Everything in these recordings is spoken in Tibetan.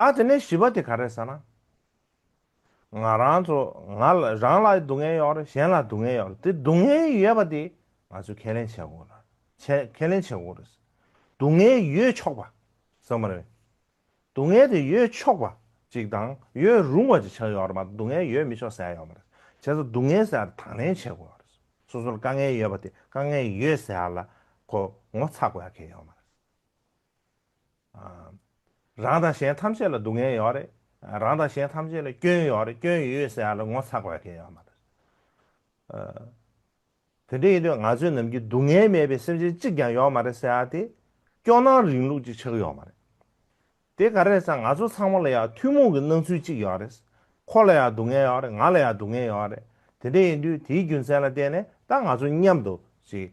ཨ་དེ་ནས་བྱིས་པ་དེ་ག་རེད་ཟེར་ན། ང་རང་ཚོ་ང་རང་ལ་སྡུག་བསྔལ་ཡོད་རེད་གཞན་ལ་སྡུག་བསྔལ་ཡོད་རེད་དེ་སྡུག་བསྔལ་ཡོད་པ་དེ་ང་ཚོས་ཁས་ལེན་བྱེད་དགོས་རེད་བྱེད་ཁས་ལེན་བྱེད་དགོས་རེད། སྡུག་བསྔལ་ཡོད་ཆོག་པ་ཟེར་མ་རེད། སྡུག་བསྔལ་དེ་ཡོད་ཆོག་པ་ཅིག་དང་ཡོད་རུང་བ་ཅིག་ཆགས་ཡོད་རེད་མ་གཏོགས་སྡུག་བསྔལ་ཡོད་མི་ཆོག་ཟེར་ཡ་ཡོད་མ་རེད། བྱས་ཙང་སྡུག་བསྔལ་ཟེར་ཡ་དེ་དང་ལེན་བྱེད་དགོས་རེད། སོ་སོར་དཀའ་ངལ་ཡོད་པ་དེ་དཀའ་ངལ་ཡོད་ཟེར་ཡ་ལ་ཁོ་ངོ་ཚ་དགོས་ཡ་ཁེལ་ཡོད་མ་རེད། རང་དང་གཞན་ཐམས་ཅད་ལ་སྡུག་བསྔལ་ཡོད་རེད། རང་དང་གཞན་ཐམས་ཅད་ལ་སྐྱོན་ཡོད་རེད་སྐྱོན་ཡོད་ཡོད་ཟེར་ཡག་ལ་ངོ་ཚ་དགོས་ཀྱི་ཡོད་མ་རེད། དེ་འདྲ་ཡིན་དུས་ང་ཚོའི་ནམ་གྱི་སྡུག་བསྔལ་མེད་པའི་སེམས་ཅན་གཅིག་ཀྱང་ཡོད་མ་རེད་ཟེར་ཡག་དེ་སྐྱོ་སྣང་རིང་ལུགས་ཀྱི་ཆགས་ཡོད་མ་རེད། དེ་ག་རེད་ཟེར་ང་ཚོ་ཚང་མ་ལ་ཡག་ཐུན་མོང་གི་སྣང་ཚུལ་གཅིག་ཡོད་རེད། ཁོ་ལ་ཡག་སྡུག་བསྔལ་ཡོད་རེད་ང་ལ་ཡག་སྡུག་བསྔལ་ཡོད་རེད་དེ་འདྲ་ཡིན་དུས་དེའི་རྒྱུ་མཚན་ལ་བརྟེན་ནས་ད་ང་ཚོ་མཉམ་དུ་ཅིག་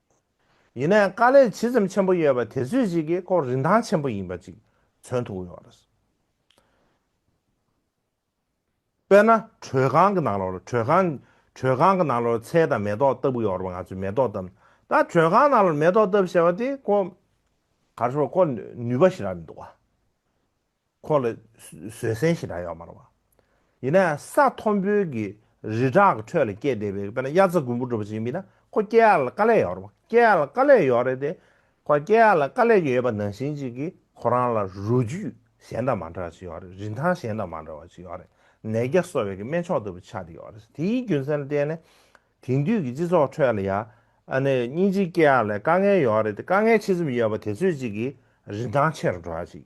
ཡིན་ནའི་དཀའ་ལས་ཇི་ཙམ་ཆེན་པོ་ཡོད་པ་དེ་ཚོད་ཅིག་གི་སྐོར་རིན་ཐང་ཆེན་པོ་ཡིན་པ་ཅིག་མཚོན་ཐུབ་ཡོད་རེད། དཔེར་ན་དྲོད་ཁང་གི་ནང་ལོར་དྲོད་ཁང། དྲོད་ཁང་གི་ནང་ལོར་ཚལ་དང་མེ་ཏོག་བཏབ་གི་ཡོད་རེད་པ་ང་ཚོས་མེ་ཏོག་བཏབ། ད་དྲོད་ཁང་ནང་ལོར་མེ་ཏོག་བཏབ་ཞེས་པ་དེ་ཀོ། ག་རེ་ཞུ་བ་ཀོ་ནུས་པ་ཞིག་རག་མི་འདུག་བ། ཁོ་ལ་བཟོད་བསྲན་ཞེ་དྲག་ཡོད་མ་རུང། ཡིན་ནའང་ས་མཐོན་པོའི་གི་རི་བྲག་གི་ཁྲོད་ལ་སྐྱེས་བསྡད་པའི་དཔེར་ན་དབྱར་རྩྭ་དགུན་འབུ་འགྲོ་བ་ཞིག་མིན་ན་ཁོ་སྐྱེ་ཡག་ལ་དཀའ་ལས་ཡོད་རུང་སྐྱེ་ཡག་ལ་དཀའ་ལས་ཡོད་རེད་དེ། ཁོ་སྐྱེ་ཡག་ལ་དཀའ་ལས་ཀྱི་ཡོད་པ་ནང་བཞིན་གཅིག་གིས་ཁོ་རང་ལ་རུས་རྒྱུད་གཞན་དང་མ་འདྲ་བ་ཞིག་ཡོད་རེད་རིན་ཐང་གཞན་དང་མ་འདྲ་བ་ཞིག་ཡོད་རེད་ནད་བརྒྱ་གསོ་བའི་གི་སྨན་མཆོག་ལྟ་བུ་ཆགས་ཏེ་ཡོད་རེད་དེའི་རྒྱུ་མཚན་ལ་བརྟེན་ནས་དེང་དུས་ཀྱི་སྤྱི་ཚོགས་ཁྲོད་ལ་ཡ་ཨ་ནི་སྙིང་རྗེ་སྐྱེ་ཡག་ལས་དཀའ་ངལ་ཡོད་རེད་དེ་དཀའ་ངལ་ཆེ་ཙམ་ཡོད་པ་དེ་ཚོས་གཅིག་གིས་རིན་ཐང་ཆེ་རུ་འགྲོ་བ་ཞིག།